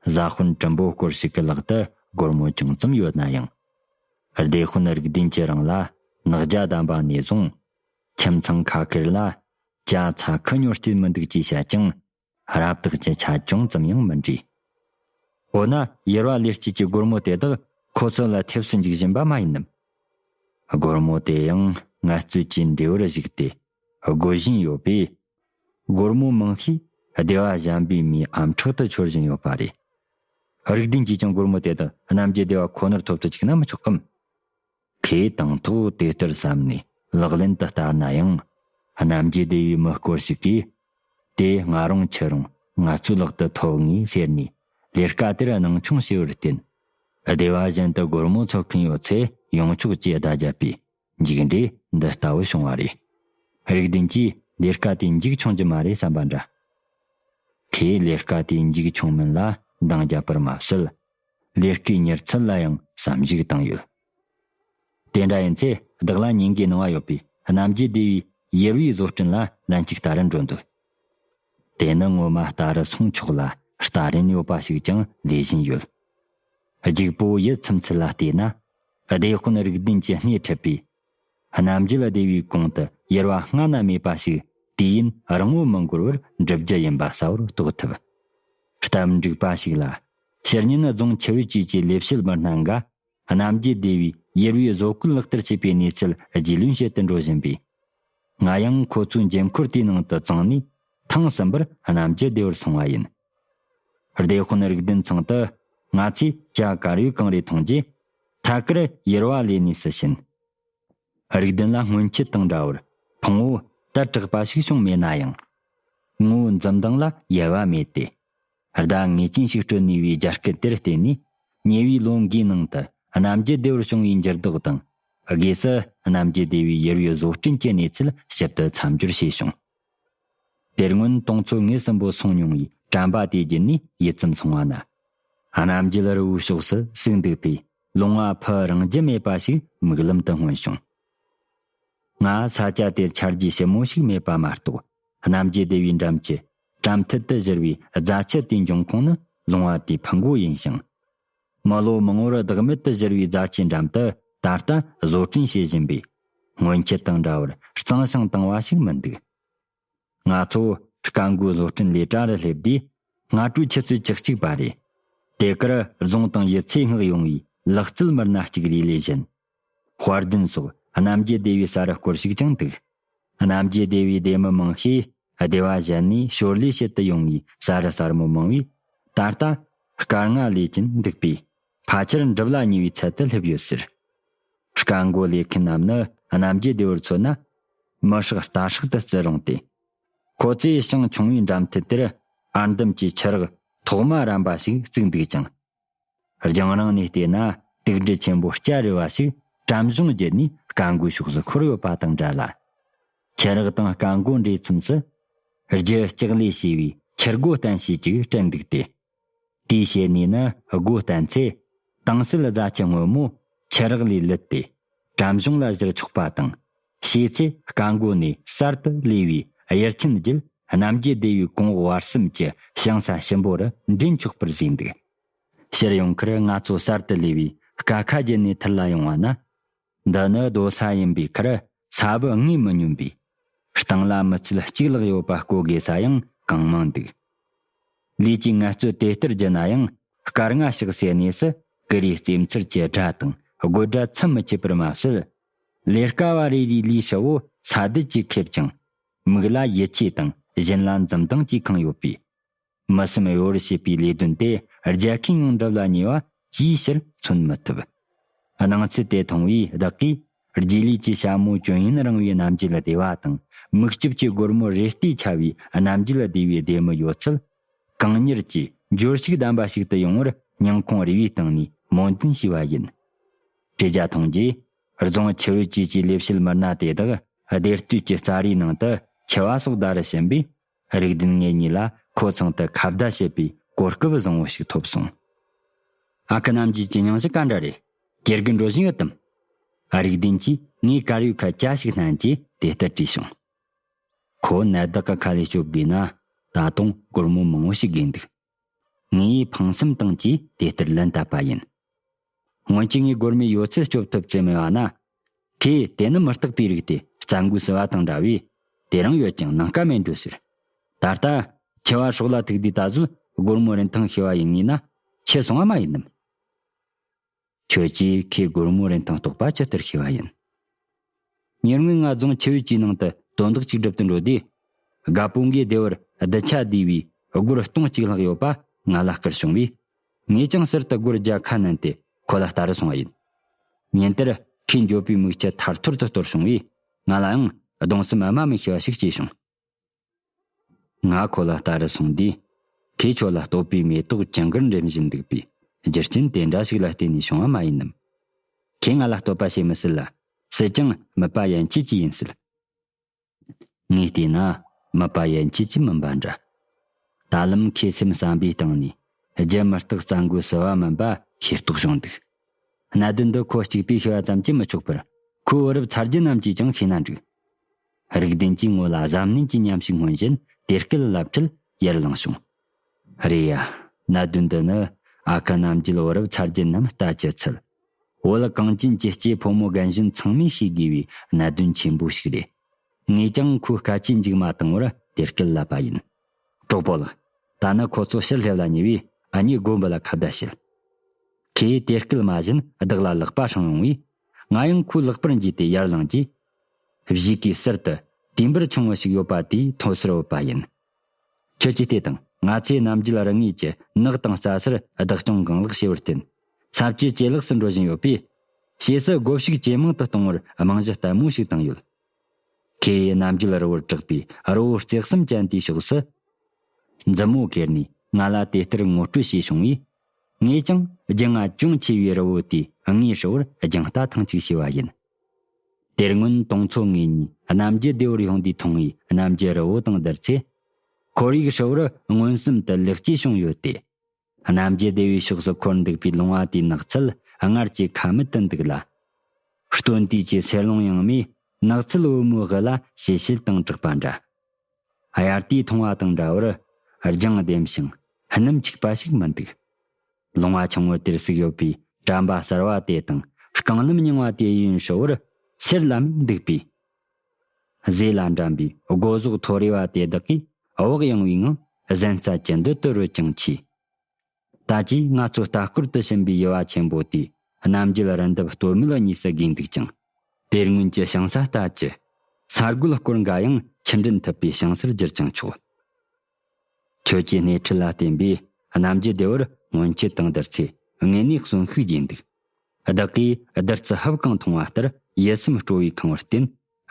བཟའ་སྤུན་གྲུམ་པོ་སྐོར་ཞིག་གི་ལག་ཏུ་སྒོར་མོ་ཅུང་ཙམ་ཡོད་ན་ཡང། བདེ་དཔོན་རིགས་ལྡན་གྱི་རང་ལ་ནག་རྒྱ་བསྡམས་པ་ནས་བཟུང། ཁྱིམ་ཚང་ཁ་ཁེར་ལ་རྒྱ་ཚ་ཁུ་སྨྱོ་སྐྱིད་མི་འདུག་ཅེས་བཤད་ཀྱང། རབ་བཏགས་ཀྱི་ཆ་ཅུང་ཙམ་ཡང་མི་འདྲི། འོ་ན་ཡེར་བ་ལེར་སྐྱིད་ཀྱི་སྒོར་མོ་དེ་དག་ཁོ་ཚོ་ལ་ཐེབས་སུ་འཇུག་བཞིན་པ་མ་ཡིན་ནམ། སྒོར་མོ་དེ་ཡང་ངལ་རྩོལ་གྱི་འབྲས་བུར་གཞིགས་ཏེ་བགོ་བཞིན་ཡོད་པས། སྒོར་མོ་མང་ཤས་སྡེ་བ་གཞན་པའི་མིའི་ཨམ་ཕྲག་ཏུ་འཆོར་བཞིན་ཡོད་པ་རེད། རིགས་ལྡན་གྱིས་ཀྱང་སྒོར་མོ་དེ་དག་རྣམ་རྒྱལ་སྡེ་བ་ཁོ་ནར་ཐོབ་དུ་བཅུག་ན་མི་ཆོག་གམ། ཁོས་དང་ཐོག་དེ་ལྟར་བསམ་ནས་ལག་ལེན་དུ་བསྟར་ན་ཡང། གནམ་གྱི་སྡེ་བའི་མི་སྐོར་ཞིག་གིས། དེ་ང་རང་ཁྱེད་རང་ང་ཚོའི་ལག་ཏུ་ཐོབ་ངེས་ཟེར་ནས་ལས་དཀའ་དེར་སྣང་ཆུང་བྱས་པར་བརྟེན། སྡེ་བ་གཞན་དུ་སྒོར་མོ་འཚོལ་མཁན་ཡོད་ཚད་ཡོང་ཆོག་ཅེས་བརྡ་བརྒྱབ་པས་མཇུག་འབྲས་འདི་ལྟ་བུ་བྱུང་བ་རེད། རིགས་ལྡན་གྱིས་ལས་དཀའ་དེ་མཇུག་ཆུང་གྱི་མ་རེད་བསམ་པ་འདྲ། ཁོས་ལས་དཀའ་དེ་མཇུག་ཆུང་མིན་ལ་འདང་བརྒྱབ་པར་མ་ཟད། ལས་ཀའི་མྱུར་ཚད་ལ་ཡང་བསམ་གཞིགས་བཏང་ཡོད། དེ་འདྲ་ཡིན་ཚེ་བདག་ལ་ཉིན་འགའི་སྣང་བ་ཡོད་པའི་རྣམ་རྒྱལ་སྡེ་བའི་ཡུར་བའི་བཟོ་སྐྲུན་ལ་ལན་གཅིག་ལྟ་རན་འགྲོ་འདོད། དེ་ནི་ངོ་མ་ལྟ་རུ་སོང་ཆོག་ལ་ལྟ་རན་ཡོད་པ་ཞིག་ཀྱང་ལས་བཞིན་ཡོད། རྒྱུག་པོ་ཡིད་ཚིམ་ཚུལ་ལ་བལྟས་ན། བདེ་དཔོན་རིགས་ལྡན་གྱི་སྣེ་ཁྲིད་པའི་རྣམ་རྒྱལ་བདེ་བའི་གུང་དུ་ཡེར་བ་སྔ་ན་མེད་པ་ཞིག་དུས་ཡུན་རིང་བོ་མི་འགོར་བར་འགྲུབ་རྒྱུ་ཡིན་པ་གསལ་བོར་རྟོགས་ཐུབ། སྟབས་འགྲིག་པ་ཞིག་ལ། ཕྱི་ཉིན་རྫོང་ཆུ་བེད་བཅས་ཀྱི་ལས་བྱེད་མི་སྣ་འགའ། རྣམ་རྒྱལ་བདེ་བའི་ཡེར་བའི་བཟོ་བཀོད་ལག་བསྟར་བྱེད་པའི་གནས་ཚུལ་རྒྱུས་ལོན་བྱེད་དུ་འགྲོ་བཞིན་པས། ང་ཡང་ཁོ་ཚོའི་འགྱེད་འཁོར་དེའི་ནང་དུ་བརྫངས་ནས། ཐེངས་གསུམ་པར་རྣམ་རྒྱལ་བདེ་བར་སོང་བ་ཡིན། བདེ་དཔོན་རིགས་ལྡན་ཚང་དུ། ང་ཚོས་བྱ་དཀའ་རུས་གང་རེ་མཐོང་རྗེས། ཐད་ཀར་ཡུར་བ་ལས་ནུས་སུ་ཕྱིན། རིགས་ལྡན་ལ་སྔོན་ཆད་དང་འདྲ་བར་ཕུང་བོ་དར་དྲགས་པ་ཞིག་བྱུང་མེད་ན་ཡང། དངོས་བོའི་འཛུམ་མདངས་ལ་ཡལ་བ་མེད་དེ། ཟླ་ངེས་ཅན་ཞིག་སྤྲོད་ནུས་པའི་རྒྱ་སྐད་དེར་བརྟེན་ནས། ཉེ་བའི་ལོ་འགའི་ནང་དུ་གནམ་རྒྱུད་སྡེ་བར་བྱུང་བའི་འགྱུར་ལྡོག་དང། སྒོས་སུ་གནམ་རྒྱུད་སྡེ་བའི་ཡུར་བའི་བཟོ་སྐྲུན་གྱི་གནས་ཚུལ་ཞིབ་ཏུ་མཚམས་སྦྱོར་བྱས་བྱུང། དེར་སྔོན་གཏོང་ཚོད་ངེས་ཟིན་པོ་སོང་མྱོང་བའི་དྲན་པ་དེ་བརྒྱུད་ནས་ཡིད་ཙམ་སོང་བ་ན། རྣམ་རྒྱལ་རི་བོའི་ཕྱོགས་སུ་ཟུག་འདུག་པས་ལུང་བ་ཕུ་རང་རྒྱུ་མེད་པ་ཞིག་མིག་ལམ་དུ་མངོན་བྱུང། ང་ས་སྐྱ་དེར་འཆར་རྒྱུ་ཞིབ་མོ་ཞིག་མེད་པ་མ་གཏོགས་རྣམ་རྒྱལ་སྡེ་བའི་འགྲམ་གྱི་གྲམ་མཐིལ་དུ་བཞུར་བའི་རྫ་ཆུ་དེའི་འབྱུང་ཁུངས་ནི་ལུང་བ་དེའི་ཕུ་མགོ་ཡིན་ཞིང། མི་ལོ་མང་བོར་བདག་མེད་དུ་བཞུར་བའི་རྫ་ཆའི་འགྲམ་དུ་ད་ལྟ་བཟོ་སྐྲུན་བྱེད་བཞིན་པའི་སྔོན་ཆད་དང་འདྲ་བར་གཙང་ཞིང་དྭངས་བ་ཞིག་མི་འདུག་ང་ཚོ་དཀའ་མགུའི་བཟོ་སྐྲུན་ལས་གྲྭ་རུ་སླེབས་དུས་སྔ་དྲོའི་ཆུ་ཚོད་བཅུ་གཅིག་པ་རེད། དེ་གར་རྫོང་དང་ཡུལ་ཚོའི་སྔགས་ཡོང་བའི་ལག་རྩལ་མི་སྣ་གཅིག་རེའི་ལས་གཞི་དཔར་ལྡན་སོགས་རྣམ་རྒྱལ་སྡེ་བའི་ས་རུ་སྐོར་ཞིག་ཀྱང་འདུག། རྣམ་རྒྱལ་སྡེ་བའི་སྡེ་མི་མང་ཤས་སྡེ་བ་གཞན་ནས་ཞོར་ལས་བྱེད་དུ་ཡོང་བའི་ས་རུ་ཟར་མོ་མང་བས། ད་ལྟ་སྐར་ལྔ་ལས་ཀྱིན་འདུག་པས། ཕ་ཆེར་འགྲུབ་ལ་ཉེ་བའི་ཚད་དུ་སླེབས་ཡོད་ཟེར། སྐར་མགོ་ལས་མཁན་རྣམས་ནི་རྣམ་རྒྱལ་སྡེ་བར་མཚོན་ན། མི་ཧྲག་རྟ་ཧྲག་ཏུ་བརྩི་རུང་སྟེ། ཁོ་ཚོས་ཞིང་ཆུང་བའི་འགྲམ་མཐིལ་དེར་ཨར་འདམ་གྱི་ཆུ་རགས་ཐོག་མ་རམ་པ་ཞིག་བརྩིགས་འདུག་ཅིང། རྒྱང་རིང་ནས་བལྟས་ན་དུག་འགྲུལ་ཆེན་པོ་སྐྱ་རེ་བ་ཞིག་བྲམ་གཞུང་བརྒྱུད་ནས་སྐ་མགོའི་ཕྱོགས་སུ་འཁོར་ཡོད་པ་དང་འདྲ་ལ། ཁྱི་རགས་དང་སྐ་མགོ་འདྲེས་མཚམས་སུ། རྒྱུ་ལྕགས་ལས་བྱས་པའི་ཁྱི་རྒོ་སྟན་ཞིག་ཅིག་དྲན་འདུག་སྟེ། དེའི་ཞལ་ནས་ནི་སྒོ་བསྟན་ཚེ། དྭངས་གསལ་རྫ་ཆུ་སྔོན་མོ་ཁྱི་རགས་ལས་ལུད་དེ། བྲམ་གཞུང་ལ་བཞུར་ཆོག་པ་དང། བྱས་ཚེ་བཀའ་འགོ་ནས་གསར་དུ་གླས་པའི་དབྱར་ཆེན་བརྒྱུད་རྣམ་རྒྱལ་སྡེ་བའི་གོང་འོག་བར་གསུམ་གྱི་ཞིང་ས་ཞིམ་པོ་རུ་འདྲེན་ཆོག་པར་བཞེད་འདུག་ཕྱིར་ཡོང་ཁར་ང་ཚོ་གསར་དུ་གླས་པའི་དཀའ་ཁ་བརྒྱུད་ནས་ཐུར་ལ་ཡོང་བ་ན། འདི་ནི་རྡོ་ས་ཡིན་པའི་ཁར་ས་བུ་ལྔས་མི་སྙོམས་པས། སྟེང་ལ་མི་ཚུལ་གཅིག་ལྷག་ཡོད་པ་བཀོལ་དགོས་ས་ཡང་གང་མང་འདུག་ལུས་ཀྱི་ངལ་རྩོལ་དེ་ལྟར་བགྱིས་ན་ཡང་སྐར་ལྔ་ཞིག་ཟད་ནས་སུ་ཀི་རའི་རྩེ་མཚར་གྱི་སྒྲ་དང་དགོད་སྒྲ་ཚིམ་མི་ཆད་པར་མ་བསྲོད། ལས་དཀའ་བ་རེ་རེའི་ལུས་ཧྲིལ་བོ་ས་རྡུལ་གྱིས་ཁེབས་ཀྱང། མིག་ལ་ཡིད་ཆེས་དང་བཞིན་ལ་འཛུམ་མདངས་ཀྱིས་ཁེངས་ཡོད་པས། མི་སེམས་གཡོ་བར་བྱེད་པའི་ལས་དོན་དེ་རྒྱལ་ཁའི་ཉུང་འགྲུབ་ལ་ཉེ་བ་ཅིའི་ཕྱིར་མཚོན་མི་ཐུབ། སྣང་ཚུལ་དེ་མཐོང་བས་བདག་གིས་རྗེས་ལུས་ཀྱི་ཞྭ་མོ་སྐྱོན་ཡོན་རིང་བའི་རྣམ་འགྱུར་བདེ་བ་དང་མིག་ལྕིབས་ཀྱི་སྒོར་མོ་རེ་ལྟོས་ཆ་བའི་རྣམ་འགྱུར་བདེ་བའི་སྡེར་མོ་ཡོད་ཚད། གང་མྱུར་གྱིས་འགྱུར་ཞིག་ལྡན་པ་ཞིག་ཏུ་ཡོང་བར་སྙིང་ཁོང་རེ་བའི་སྟེང་ནས་སྨོན་འདུན་ཞུས་པ་ཡིན། བཀྲིས་རྒྱ་མཐོང་རྗེས་རྫོང་ཆུ་བེད་བཅས་ཀྱི་ལས་བྱེད་མི་སྣ་དེ་དག་སྡེ་སྟོད་ཀྱི་རྩྭ་རའི་ནང་དུ་འཁྱིལ་བ་སོགས་ཟླ་རེ་ཕྱིན་པའི་རིགས་བདུན་ལྔའི་ཉིན་ལ་ཁོ་ཚང་དུ་ཁ་བརྡ་བྱེད་པའི་གོ་སྐབས་བཟང་བོ་ཞིག་ཐོབ་སོང། ཨ་ཁུ་རྣམ་རྒྱལ་གྱི་སྙིང་གཞི་ག་འདྲ་རེད། དགེ་རྒན་འགྲོ་བཞིན་ཡོད་དམ། རིགས་བདུན་གྱིས་ངའི་དཀར་ཡོལ་ཁ་གྱ་ཞིག་བསྣན་རྗེས་དེ་ལྟར་དྲིས་བྱུང། ཁོ་ནད་བདག་གི་ཁ་ལས་སྐྱོབ་དགོས་ན་ད་དུང་སྒོར་མོ་མང་བོ་ཞིག་དགོས་འདུག། ངའི་ཕངས་སེམས་སྟངས་ཀྱིས་དེ་ལྟར་ལན་བཏབ་པ་ཡིན། སྔོན་གྱི་ངའི་སྒོར་མོའི་ཡོད་ཚད་སྐྱོབ་ཐུབ་ཙེ་མེད་བ་ན། ཁོས་དེ་ནི་མི་རྟག་པའི་རིགས་ཏེ་རྩྭ་མགོའི་སྲི་བ་དང་འདྲ་བས། དེ་རང་ཡོད་ཀྱང་ནང་དཀའ་མེད་འགྲོ་ཟེར། ད་ལྟ། ཁྱེད་བར་ཤོག་ལ་ཐུག་དུས་ད་གཟོད་སྒོར་མོ་རིན་ཐང་ཤེས་བ་ཡིན་ངེས་ན། ཁྱེད་སོང་བ་མ་ཡིན་ནམ། ཁྱོད་ཀྱིས་ཁོའི་སྒོར་མོ་རིན་ཐང་རྟོགས་པ་ཇི་ལྟར་ཤེས་པ་ཡིན། ཉེར་དངོས་ང་རྫོང་ཆུ་བོའི་སྤྱིའི་ནང་དུ་དོན་དག་ཅིག་སྒྲུབ་ཏུ་འགྲོ་དུས། དགའ་སྤུན་གྱིས་སྡེ་བར་རྡུལ་ཆ་བསྡུས་པའི་སྒོར་སྟོང་གཅིག་ལྷག་ཡོད་པ་ང་ལ་བསྐུར་བྱུང་བས། ངས་ཀྱང་ཟུར་དུ་སྒོར་བརྒྱ་ཁ་བསྣན་ཏེ་ཁོ་ལ་བལྟ་རུ་སོང་བ་ཡིན། ཉིན་དེར་ཁོས་འགྱོད་པའི་མིག་ཆུ་ཐར་ཐོར་དུ་གཏོར་བྱུང་བས་ང་ལའང་གདུང་སེམས་དམའ་མི་ཤོས་པ་ཞིག་སྐྱེས་བྱུང། ང་ཁོ་ལ་ལྟ་རུ་སོང་དུས། ཁོས་ཁྱོད་ལ་སྟོད་པའི་མེ་ཏོག་ཀྱང་གར་འགྲེམ་བཞིན་འདུག་པས་རྒྱུ་རྐྱེན་དེ་འདྲ་ཞིག་ལ་བརྟེན་ནས་བྱུང་བ་མ་ཡིན་ནམ། ཁོས་ང་ལ་བསྟོད་པ་བྱེད་མི་སྲིད་ལ། སྲིད་ཀྱང་མིད་པ་ཡན་ཆད་ཀྱིས་ཡིན་སྲིད། ངས་བལྟས་ན་མིད་པ་ཡན་ཆད་ཀྱིས་མིན་པ་འདྲ། ད་ལམ་ཁོས་སེམས་བསམ་པའི་སྟེང་ནས་རྒྱུ་མི་རྟག་རྩ་འགོ་ཟི་བ་མིན་པ་ཤེས་རྟོགས་བྱུང་འདུག་གནད་དོན་འདི་ཁོ་གཅིག་པས་ཤི་བ་ཙམ་གྱིས་མི་ཆོག་པར་ཁོའི་བུ་རབས་ཚ་རྒྱུད་རྣམས་ཀྱིས་ཀྱང་ཤེས་ན་འགྲིག། རིགས་ལྡན་གྱིས་ངོ་ལ་གཟབ་ནན་གྱིས་ཉམས་ཤིག་སྔོན་བཞིན་དེར་སྐད་བསླབ་ཁྲིད་ཡར་ལངས་བྱུང། རེད་ཡ། གནད་དོན་འདི་ནི་ཨ་ཁ་རྣམ་རྒྱལ་བུ་རབས་ཚར་བརྒྱད་རྣམས་ལྟ་ཅི་ཚུལ། བོད་ལ་གངས་ཅན་གྱི་སྐྱེས་ཕོ་མོ་རྒན་གཞོན་ཚང་མས་ཤེས་དགོས་པའི་གནད་དོན་ཆེན་པོ་ཞིག་རེད། ངས་ཀྱང་ཁོའི་སྐད་ཆའི་མཇུག་མ་བཏང་བར་དེར་སྐད་བསླབ་པ་ཡིན། གྲོགས་པོ་ལགས། ད་ནི་ཁོ་ཚོ་ཕྱིར་སླེབས་ལ་ཉེ་བས་ཨ་མྱེས་མགོན་པོ་ལ་ཁ་བརྡ་བྱེད། ཁོས་དེར་སྐད་སྨྲ་བཞིན་བདག་ལ་ལག་པ་བསྲིངས་ཡོང་བས། ང་ཡང་ཁོའི་ལག་པར་འཇུས་ཏེ་ཡར་ལངས་རྗེས་བཞུགས་ཀྱི་གསེར་དུ་དུས་འབུར་ཆུང་ངུ་ཞིག་ཡོད་པ་དེའི་མཐོ་ཤོར་བུད་པ་ཡིན། ཁྱོད་ཀྱིས་དེ་དང་ང་ཚོའི་རྣམ་རྒྱུད་རང་ངོས་ཀྱི་ནགས་དང་རྩྭ་སར་བདག་སྐྱོང་གང་ལེགས་བྱས་པར་བརྟེན། ཚབས་ཆེས་ཇེ་ལེགས་སུ་འགྲོ་བཞིན་ཡོད་པས། ཕྱིས་སུ་བགོ་བཤུགས་ཇེ་མང་དུ་གཏོང་བར་རྨང་གཞི་བརྟན་མོ་ཞིག་བཏིང་ཡོད། ཁེ་ཡི་རྣམ་རྒྱུད་རི་བོར་གྲགས་པའི་རི་བོ་བརྩེགས་གསུམ་ཅན་དེའི་ཕྱོགས་སུ། མཛུབ་མོ་གེར་ནས་ང་ལ་དེ་ལྟར་ངོ་སྤྲོད་བྱས་བྱུང་བས། ངས་ཀྱང་རྒྱུས་མངའ་ཅུང་ཆེ་བའི་རི་བོ་དེའི་ངོས་ཧྲིལ་བོར་རྒྱང་ལྟ་ཐེངས་གཅིག་བྱས་པ་ཡིན། དེར་སྔོན་གཏོང་ཚོ་ངེས་གཉིས་རྣམ་རྒྱལ་སྡེ་བར་ཡོང་དུས་ཐོང་ཡིག་རྣམ་རྒྱལ་རི་བོ་དང་བསྡུར་ཚེ། འཁོར་ཡིག་ཧྲིལ་བོར་མངོན་སུམ་དུ་ལེགས་སྐྱེས་བྱུང་ཡོད་དེ། རྣམ་རྒྱལ་སྡེ་བའི་ཕྱོགས་སུ་འཁོར་འདུག་པའི་ལུང་བ་དེའི་ནགས་ཚལ་སྔར་གྱི་ཁ་མིད་དུ་འདུག་ལ། སྟོན་དུས་ཀྱི་ཚེར་ལུང་ཡང་མེད་ནགས་ཚལ་དབུ་མའི་དབུ་ལ་ཞལ་ཤེལ་དང་གྲགས་པ་འདྲ། དབྱར་དུས་མཐོང་བ་དང་འདྲ་བར་རྒྱང་ལྡེམ་ཞིང་སྣུམ་འཁྱུག་པ་ཞིག་མི་འདུག། ལུང་བ་ཆུང་ངུ་དེར་གཟིགས་ཡོད་པའི་གྲམ་པ་གསར་བ་དེ་དང་རྐང་སྣམ་རྙིང་བ་དེ་ཡིན་ཧྲིལ་བོར་གསེར་ལམ་འདུག་པས། གཟེ་ལ་འགྲམ་པའི་སྒོ་ཟོག་མཐོ་རིས་བ་དེ་དག་གིས་དབོག་ཡངས་བའི་ངང་གཟན་རྩལ་གྱི་འདུ་སྟོད་རུ་ཅང་མཆིས། ད་ཅིའི་ང་ཚོས་ལྟ་སྐོར་དུ་ཕྱིན་པའི་དབྱེ་བ་ཆེན་པོ་དེ་རྣམ་རྒྱལ་རི་འདབས་སྟོད་མོ་ལ་གཉིས་སུ་བགོས་འདུག་ཅིང། དེར་སྔོན་གྱི་ཞིང་ས་ལྟར་གྱི་ས་རྒོད་སྐོར་འགའ་ཡང་ཕྱིར་འདྲེན་ཐུབ་པའི་ཞིང་སར་བསྒྱུར་ཀྱང་ཆོག། ཁྱོད་ཀྱི་སྣེ་ཁྲིད་ལ་བརྟེན་པས་རྣམ་རྒྱལ་བདེ་བར་སྔོན་ཆད་དང་བདུད་རྩི་ངེས་གནས་གསོན་ཤུགས་རྒྱས་འདུག། བདག་གིས་བདུད་རྩི་ཧབ་བཀང་མཐོང་བ་ལྟར་ཡིད་སེམས་སྤྲོ་བས་གང་བར་བརྟེན་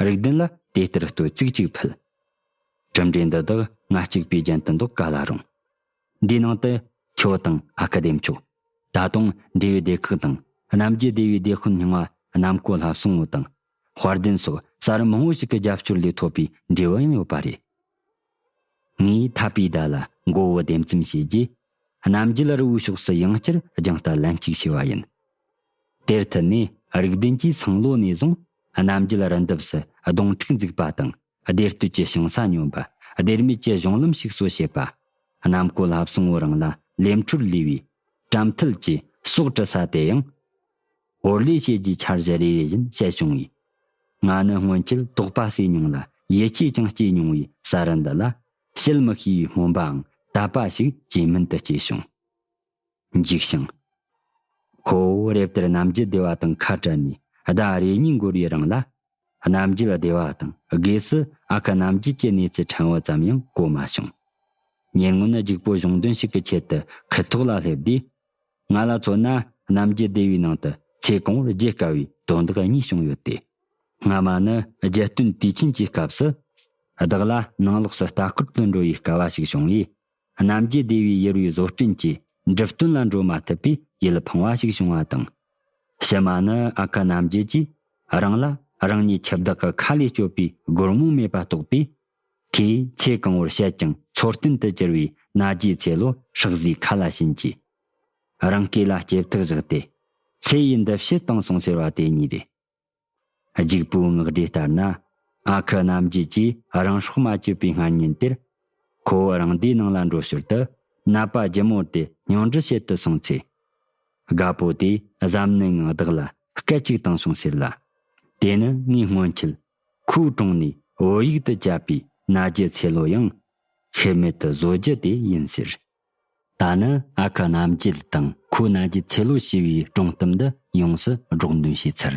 རིགས་ལྡན་ལ་དེ་ལྟར་བསྟོད་ཚིག་ཅིག་ཕུལ། གྲུབ་འབྲས་འདི་དག་ང་གཅིག་པས་རྒྱན་དུ་འདོགས་ག་ལ་རུང། འདིའི་ནང་དུ་ཁྱོད་དང་ཨ་ཁ་དེབ་མཆོག། ད་དུང་འབྲས་བུའི་སྡེ་ཁག་དང་རྣམ་རྒྱལ་སྡེ་བའི་སྡེ་དཔོན་རྙིང་བ་གནམ་ཀོ་ལྷ་སྲུང་བོ་དང་དཔལ་ལྡན་སོགས་གསར་མང་བོ་ཞིག་གི་རྒྱབ་སྐྱོར་ལས་ཐོབ་པའི་འབྲས་བུ་ཡང་ཡོད་པ་རེད། ངས་འཐབ་པའི་ཟླ་ལ་མགོ་བོ་ལྡེམ་ཙམ་བྱས་རྗེས། གནམ་རྒྱུད་རི་བོའི་ཕྱོགས་སུ་ཡང་བསྐྱར་རྒྱང་ལྟ་ལན་གཅིག་བྱས་པ་ཡིན། དེར་མཐུད་ནས་རིག་ལྡན་གྱིས་སང་ལོ་ནས་བཟུང་གནམ་རྒྱུད་རི་འདབས་སུ་སྡོང་ཕྲུག་འཛུགས་པ་དང་སྡེར་བསྟོད་ཀྱི་ཞིང་ས་སྙོམས་པ་སྡེར་མིད་ཀྱི་གཞུང་ལམ་ཞིག་གསོ་བྱེད་པ། གནམ་བསྐོས་ལྷ་བསང་བོ་རང་ལ་ལས་འཕྲོར་ལུས་པའི། བྲམ་ཐུལ་གྱིས་སྲོག་དཀྲི་ས་དེ་ཡང། ཧོར་ལས་བྱེད་ཀྱི་འཆར་གཞི་རེ་རེ་བཞིན་བཤད་བྱུང་བས། ང་ནི་སྔོན་ཆད་དོགས་པ་སེལ་མྱོང་ལ་ཡིད་ཆེས་ཀྱང་སྐྱེས་མྱོང་བའི་ས་རི་འདི་ལ། བྱེད་མི་ཤེས་པའི་སྨོན་པའང་དད་པ་ཞིག་ཇེ་མིན་དུ་སྐྱེས་བྱུང། འཇིགས་ཤིང། ཁོ་བོ་རེབ་དེར་ནམ་རྒྱུན་སྡེ་བ་དང་ཁ་བྲལ་ནས་ཟླ་རེ་གཉིས་འགོར་བའི་རིང་ལ། རྣམ་རྒྱལ་བདེ་བ་དང་དགོས་སུ་ཨ་ཁ་རྣམ་རྒྱལ་གྱི་གནས་ཚུལ་ཕྲན་བུ་ཙམ་ཡང་གོ་མ་བྱུང། ཉེ་སྔོན་རྒྱུགས་སྤོ་གཞུང་དོན་ཞིག་གི་ཆེད་དུ་ཁུ་ཐོག་ལ་སླེབས་དུས། ང་ལ་མཚོན་ན་རྣམ་རྒྱལ་སྡེ་བའི་ནང་དུ་ཚེ་གང་བོར་བརྗེད་དཀའ་བའི་དོན་དག་གཉིས་བྱུང་ཡོད་དེ། སྔ་མ་ནི་རྒྱལ་སྟོན་དུས་ཆེན་གྱི་སྐབས་སུ། བདག་ལ་ནང་ལོགས་སུ་ལྟ་སྐོར་དུ་འགྲོ་བའི་དཀའ་བ་ཞིག་བྱུང་བས། རྣམ་རྒྱལ་སྡེ་བའི་ཡུར་བའི་བཟོ་སྐྲུན་གྱི་འགྲིབ་སྟོན་ལ་འགྲོ་མ་ཐུབ་པས་ཡིད་ཕངས་བ་ཞིག་བྱུང་བ་དང། ཕྱི་མ་ནི་ཨ་ཁུ་རྣམ་རྒྱལ་གྱིས་རང་ལ་རང་ཉིད་ཁྱི་བདག་གི་ཁ་ལས་སྐྱོབ་པའི་སྒོར་མོ་མེད་པ་རྟོགས་པས། ཁོས་ཚེ་གང་བོར་བཤད་ཀྱང་འཚོ་རྟེན་དུ་གྱུར་བའི་ན་རྒྱའི་ཚེ་ལོ་ཧྲག་བཟོའི་ཁ་ལ་བྱིན་གྱིས། རང་སྐེ་ལ་སྐྱེ་ཐག་བཞག་སྟེ། ཚེ་ཡི་འདུ་ཤེས་བཏང་སོང་ཟེར་བ་དེ་གཉིས་རེད། རྒྱུག་པོའི་ངག་སྒྲོས་ལྟར་ན། ཨ་ཁུ་རྣམ་རྒྱལ་གྱིས་རང་སྲོག་མ་གཅོད་པའི་སྔ་ཉིན་དེར། ཁོ་བོ་རང་སྡེའི་ནང་ལ་འགྲོ་ཞོར་དུ་ནད་པ་སྒྱུ་མོ་དེ་མྱོང་འདྲི་བྱེད་དུ་སོང་ཚེ། དགའ་པོ་དེས་གཟབ་ནན་ངང་བདག་ལ་སྐད་ཅིག་བཏང་སོང་ཟེར་ལ། དེ་ནི་ངའི་སྔོན་ཁྱིལ། ཁོའི་དྲུང་ནས་བོད་ཡིག་ཏུ་བཅད་པའི་ན་རྒྱལ་ཚེ་ལོ་ཡང། ཤེས་མེད་དུ་བཟོ་རྒྱུ་དེ་ཡིན་ཟེར། ད་ནི་ཨ་ཁུ་རྣམ་རྒྱལ་དང་ཁོའི་རྣ་རྒྱལ་ཚེ་ལོ་ཞེས་པའི་སྒྲུང་གཏམ་འདི་ཡོངས་སུ་སྒྲོག་འདོན་བྱས་ཚར།